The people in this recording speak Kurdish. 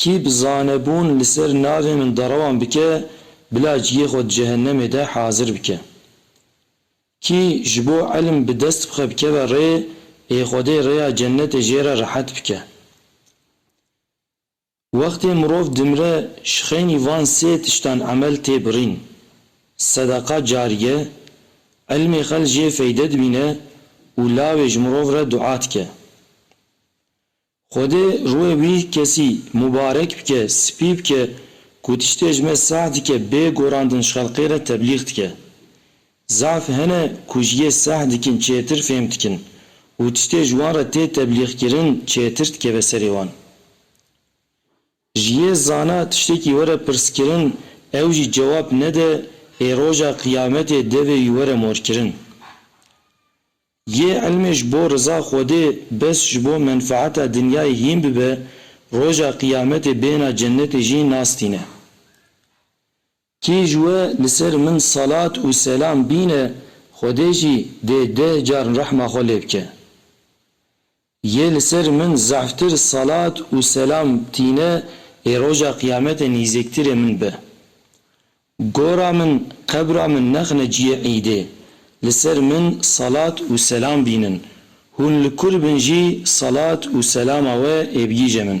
Kî bi zanebûn li ser navê min derewan bike, bila ciyê xwe di cehennemê de hazir bike. Kî ji bo ilm bi dest bixe bikeve rê ê Xwedê rêya cennetê jê re rehet bike. Wextê mirov dimire ji xeynî van sê tiştan emel tê birîn, sedeqa carîye, ilmê xel jê feyde dibîne û lawê ji mirov re dua dike. Xwedê ruhê wî kesî mubarek bike, spî bike ku tiştê ji me sah dike bê gorandin ji xelqê re teblîx dike. Zaf hene ku ji yê sah dikin çêtir fêm dikin û tiştê ji wan re tê teblîxkirin çêtir dikeve serê wan. Ji yê zana tiştekî were pirskirin ew jî cewab nede ê roja qiyametê devê wî were morkirin. Yê îlmê ji bo riza Xwedê bes ji bo menfaeta dinyayê hîn bibe, roja qiyametê bêhna cenetê jî nas tîne. Kî ji we li ser min salat û selam bîne, Xwedê jî dê deh car rehma xwe lê bike. Yê li ser min zehftir salat û selam tîne lê roja qiyametê nîzêktirê min be. Gora min, qebra min nexne ciyê îdê, li ser min salat û selam bînin, hûn li kur bin jî salat û selama we ê bigîje min.